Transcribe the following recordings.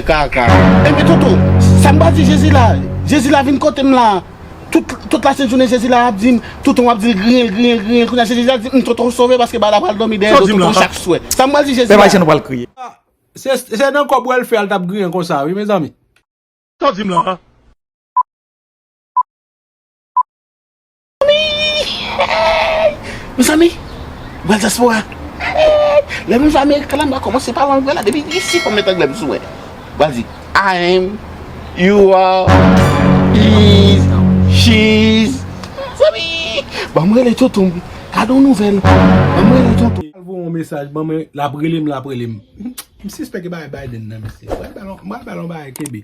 Kaka. Enben Toto, sa m pral di Jezi la, Jezi la vin kote m la. Tout, tout lasent jounen Jezi la ap di m, Toto m ap di l griyen, griyen, griyen. Kounye a se Jezi a k di m, Toto ou sove paske Bala pral dòmi dèyè do Toto chak swè. Sa m pral di Jezi la. Se, se nan kò bwè l fè a l t ap griyen konsa wi mezanmi. Sa w di m la? Mezanmi Bwèl dyaspora Lè moun va amerik la m va kòmanse pale anglè la depi isi fòm met anglè m sou wè M ap di I am You are He is She is Mezanmi Ban m rele tonton m Gade yon nouvèl Ban m rele tonton m L ap voye yon mesaj ban m L ap rele m L ap rele m M sispèk e bagay Biden nan mesye M pral ba l yon bagay kenbe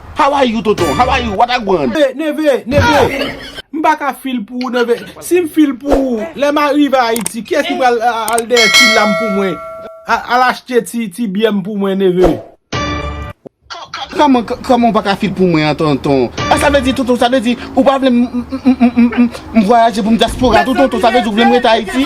How are you tonton? How are you? What a gwan? Neve, neve, neve! M pa ka feel pou ou neve. Si m feel pou ou, lè m arive Ayiti, kiyès ki pral al dèyè ti lam pou mwen? Al achte ti byè m pou mwen neve. Kòman, kòman ou pa ka feel pou mwen an tonton? Ah sa vle di tonton, sa vle di ou pa vle m vwayaje pou m dyaspora tou tonton? Sa vle di ou vle m rete Ayiti?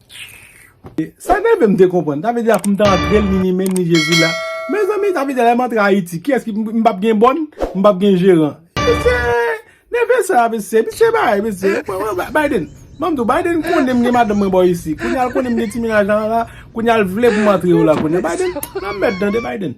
Sak rive m te konprann sa vle di a poum ta antrel ni ni menm ni jezi la mezanmi sa vle di a lèm antre ayiti kiyès ki m pap gen bòn m pap gen jeran mesye neve sa mesye misye bay mesye Biden banm di w Biden konnen m gen madanm mwen bò isi kounya l konnen m gen ti menaj la la kounya l vle pou m antre yo la kounya Biden nan mèd tande Biden.